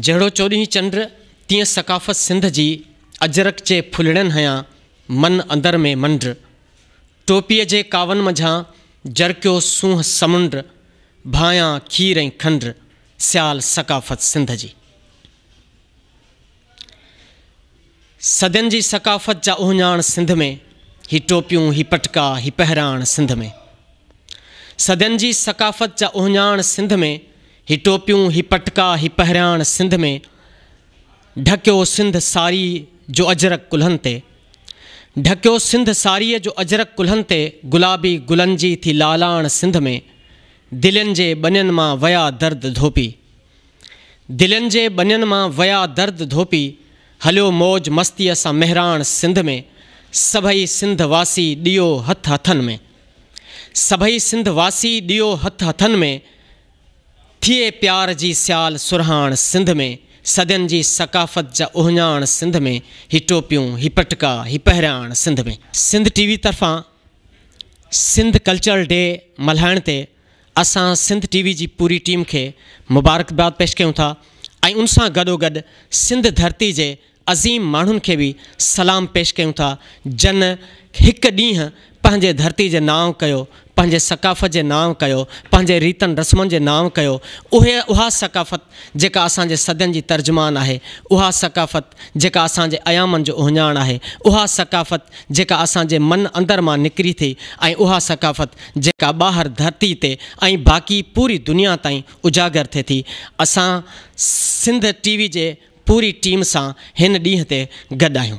جهڙو چوڏهين چنڊ تيئن ثقافت سنڌ جي اجرڪ جي ڦلڙين هنيان من اندر ۾ منڊ ٽوپيء جي ڪاون منجهان جرڪيو سونهن سمنڊ ڀانئيان کير ۽ کنڊ سيال ثقافت سنڌ جي صدين جي ثقافت جا اهڃاڻ سنڌ ۾ هي ٽوپيون هي پٽڪا هي پهراڻ سنڌ ۾ صدين جي ثقافت جا اهڃاڻ سنڌ ۾. هي ٽوپيون، هي پٽڪا، هي پهرياڻ سنڌ ۾، ڍڪيو سنڌ ساريء جو اجرڪ ڪلهن تي. ڍڪيو سنڌ ساريء جو اجرڪ ڪلهن تي، گلابي گلن جي ٿي لالاڻ سنڌ ۾، دلين جي ٻنين مان ويا درد ڌوپي. دلين جي ٻنين مان ويا درد ڌوپي، هليو موج مستيء سان مهراڻ سنڌ ۾، سڀئي سنڌ واسي ڏيو هٿ هٿن ۾. سڀئي سنڌ واسي ڏيو هٿ هٿن ۾، ٿئي پيار جي سيال سرهاڻ سنڌ ۾، صدين جي ثقافت جا اهڃاڻ سنڌ ۾، هي ٽوپيون، هي پٽڪا، هي پهرياڻ سنڌ ۾. سنڌ ٽي وي طرفان سنڌ ڪلچرل ڊي ملهائڻ تي اسان سنڌ ٽي وي جي پوري ٽيم کي مبارڪباد پيش ڪيون ٿا ۽ ان سان گڏوگڏ سنڌ ڌرتي جي عظيم ماڻهن کي به سلام پيش ڪيون ٿا جن هڪ ڏينهن پنهنجي ڌرتي جي نانء ڪيو، پنهنجي ثقافت جي نانء ڪيو، پنهنجي ريتن رسمن جي نانء ڪيو، اهي اها ثقافت جيڪا اسان جي صدين جي ترجمان آهي، اها ثقافت جيڪا اسان جي ايامن جو اهڃاڻ آهي، اها ثقافت جيڪا اسان جي من اندر مان نڪري ٿي ۽ اها ثقافت جيڪا ٻاهر ڌرتي تي ۽ باقي پوري دنيا تائين اجاگر ٿئي ٿي اسان سنڌ ٽي وي جي پوري ٽيم سان ھن ڏينھن تي گڏ آھيون.